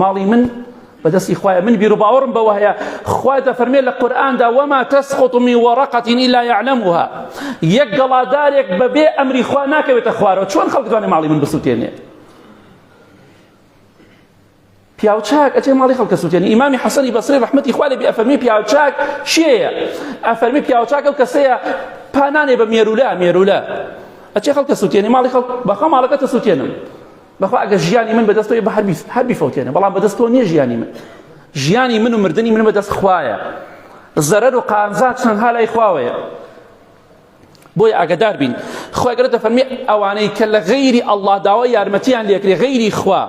ماڵی من بەدەستی خوایە من بیرو باوەڕم بەوە هەیە خوا دەفەرمێ لە قورئاندا وەما تسقط من ورقة الا يعلمها یەک گەڵادارێک بەبێ ئەمری خوا ناکەوێتە خوارەوە چۆن خەڵک دوانێ ماڵی من بسوتێنێ پیاوچاک ئەچێ ماڵی خەڵکە سووتێنی ئیمامی حەسەنی بەسری ڕحمەتی خوالێ بێ ئەفەرمی پیاوچاک شێیە ئەفەرمی پیاوچاکە و کەسەیە پانانێ بە مێرولە مێرولە ئەچێ خەڵکە سووتێنی ماڵی خەڵک بەخە ماڵەکەتە سووتێنم بەخوا ئەگەر ژیانی من بەدەست تۆی بە هەر بیست هەر بیفەوتێنە بەڵام بەدەست تۆ نییە ژیانی من ژیانی من و مردنی من بەدەست خوایە زەرەر و قانزا چەندها لای خواوەیە بۆی ئاگدار بین خۆی گەرە دەفەرمی ئەوانەی کە لە غەیری ئەلله داوا یارمەتیان لێکرێ غەیری خوا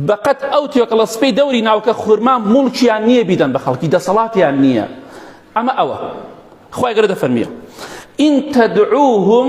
بەقەت ئەو توێکڵە سپی دەوری ناوکە خورما مڵکیان نییە بیدەن بە خەڵکی دەسەڵاتیان نییە ئەمە ئەوە خۆی گەرە دەفەرمیە ئین تەدعوهم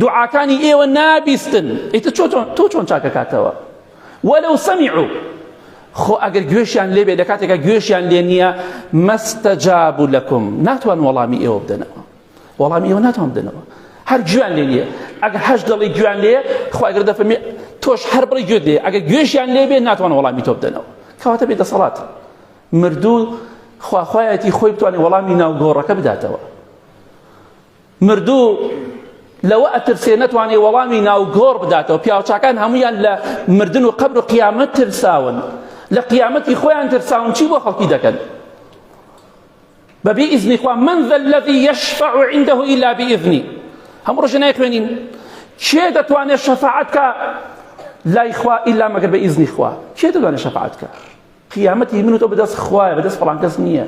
دوعاکانی ئێوە نابیستن ئیتر تۆ چۆن چاکەکاتەوە وەلو سەمیعو خۆ ئەگەر گوێشیان لێبێ لە کاتێکا گوێشیان لێ نییە مەستەجاب و لەکم ناتوان وەڵامی ئێوە بدەنەوە وەڵامی ئێوە ناتوان بدەنەوە هەر گوێیان لێ نییە ئەگەر هەش دڵی گوێیان لێ خواگەر دەفەرمێ تۆش هەر بڵی گوێت لێ ئەگەر گوێشیان لێ بێ ناتوان وەڵامی تۆ بدەنەوە کەواتە بێ دەسەڵات مردوو خواخوایەتی خۆی بتوانێت وەڵامی ناوگۆڕەکە بداتەوە مردوو لەوە ئەترسێ نەتوانێ وەڵامی ناو گۆڕ بداتەوە پیاوچاکان هەمویان لە مردن و قەبر و قیامەت ترساون لە قیامەتی خۆیان ترساون چی بۆ خەڵکی دەکەن بەبێ ئیزنی خوا من ذا الذي يشفع عنده إلا بإذنه هەموو ڕۆژە نایخوێنین کێ دەتوانێت شەفاعەت کە لای خوا ئیلا مەگەر بە ئیزنی خوا کێ دەتوانێت شەفاعەت کە قیامەت هی من و تۆ بەدەست خوایە بەدەست فڵان کەس نییە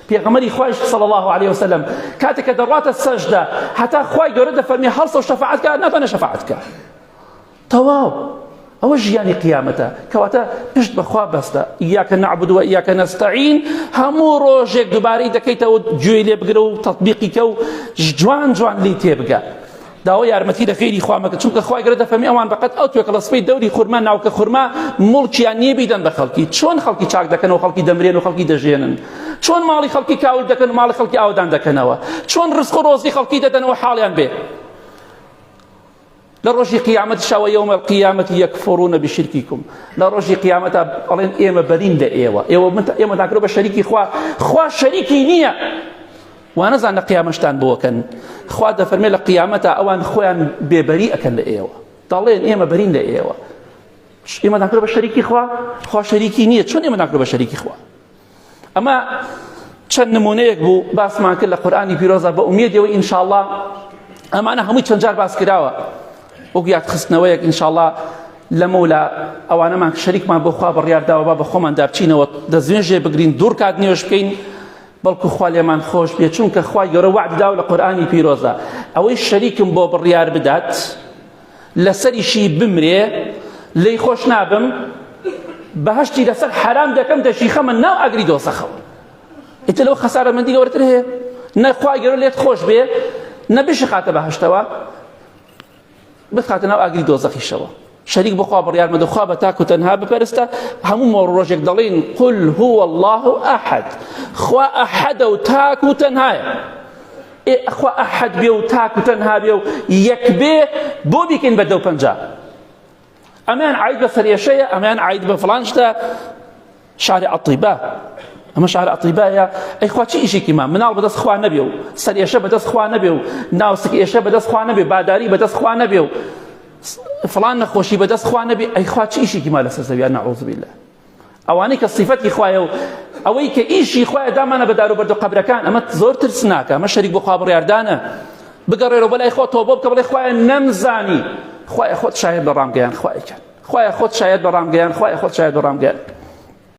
پێغەمەری خوایش صلی الله علیه وسلم کاتێک کە دەڕاتە سەجدە هەتا خوای گەورە دەفەرمی هەڵسە و شەفاعەت کە ناتوانێت شەفاعەت کە تەواو ئەوە ژیانی قیامەتە کەواتە پشت بەخوا بەستە یاکە نعبدوە یاکە نستعین هەموو ڕۆژێک دووبارەی دەکەیتەوە گوێی لێ بگرە و تطببیقیکە و جوان جوان لی تێبگە داوای یارمەتی لە غیری خوا مەکە چونکە خوای گەورە دەفەرمی ئەوان بەقەت ئەو توێکڵە سپەی دەوری خورما ناوکە خورما موڵکیان نییە بیدەن بە خەڵکی چۆن خەڵکی چاک دەکەن و خەڵکی دەمرێن و خەڵکی دەژێنن چۆن ماڵی خەڵکی کاول دەکەن و ماڵی خەڵکی ئاودان دەکەنەوە چۆن ڕزق و ڕۆزی خەڵکی دەدەنەوە حاڵیان بێ لە ڕۆژی قیامەت شەوە یومە قیامەتی یەکفڕونە بشرکیکم لە ڕۆژی قیامەتە ئەڵێن ئێمە بەرین لە ئێوە ئێوە ئێمە داکرۆ بە شەریکی خوا خوا شەریکی نییە وانەزان لە قیامەشتان بۆکەن خوا دەفەرمێ لە قیامەتا ئەوان خۆیان بێبەری ئەکەن لە ئێوە دەڵێن ئێمە بەرین لە ئێوە ئێمە ناکرۆ بە شەریکی خوا خوا شەریکی نییە چۆن ئێمە ناکرۆ بە شەریکی خوا ئەمە چەند نمونەیەک بوو باسمان کرد لە قورآانی پیرۆزە بە ئومیدەوە ئینشاءله ئەمانە هەمووی چەند جار باس کراوە وەک یاد خستنەوەیەک ئینشاءله لەمە لە ئەوانەمان شەریکمان بۆخوا بڕیارداوە با بە خۆمان دابچینەوە دەستێژێ بگرین دوور کات نوێش بکەین بەڵکو خوا لێمان خۆش بێ چونکە خوای گەورە وعد داو لە قورآانی پیرۆزە ئەوەی شەریکم بۆ بڕیار بدات لەسەریشی بمرێ لی خۆش نابم بەهشتی لەسەر حرام دەکەم دەشی خەمە ناو ئەگری دۆزەخەوە ئیتە لەو خەسارەمەندی گەورەتر هەیە نەخوای گەورە لێت خۆش بێ نەبیش خاتە بەهشتەوە بخاتە ناو ئاگری دۆزەخیشەوە شەریک بخوا بڕیار مەدە خوا بە تاکو تەنها بپەرستە هەموو مۆڕ ڕۆژێک دەڵین قل هو الله ئەحد خوا ئەحەدە و تاکو تەنهایە ئەخوا ئەحەد بێ و تاکو تەنها بێ و یەک بێ بۆ بیکەین بە دەو پەنجا ئەمەیان عاید بە فرێشەیە ئەمەیان عاید بە فلان شتە شارە ئەطیبا ئەمە شارە ئەطیبایە ئەی خوا چی ئیشێکی ما مناڵ بەدەست خوا نەبێ و سەر ئێشە بەدەست خوا نەبێ و ناوسک ئێشە بەدەست خوا نەبێ باداری بەدەست خوا نەبێ و فلان نەخۆشی بەدەست خوا نەبێ ئەی خوا چی ئیشێکی ما لەسەر زەویان نەعوذ بالله ئەوانەی کە صفەتی خوایە و ئەوەی کە ئیشی خوایە دامانە بە دار و بەردە قەبرەکان ئەمە زۆر ترسناکە ئەمە شەریک بۆ خوا بڕیاردانە بگەڕێرەوە بەلای خۆ تۆبە بکە بڵێ خوایە نەمزانی خوایە خۆت شاهێد بە ڕامگەیان خوایەکە خوایە خۆت شاهێد بە ڕامگەیان خوایە خۆت شاهێد بە ڕامگەیان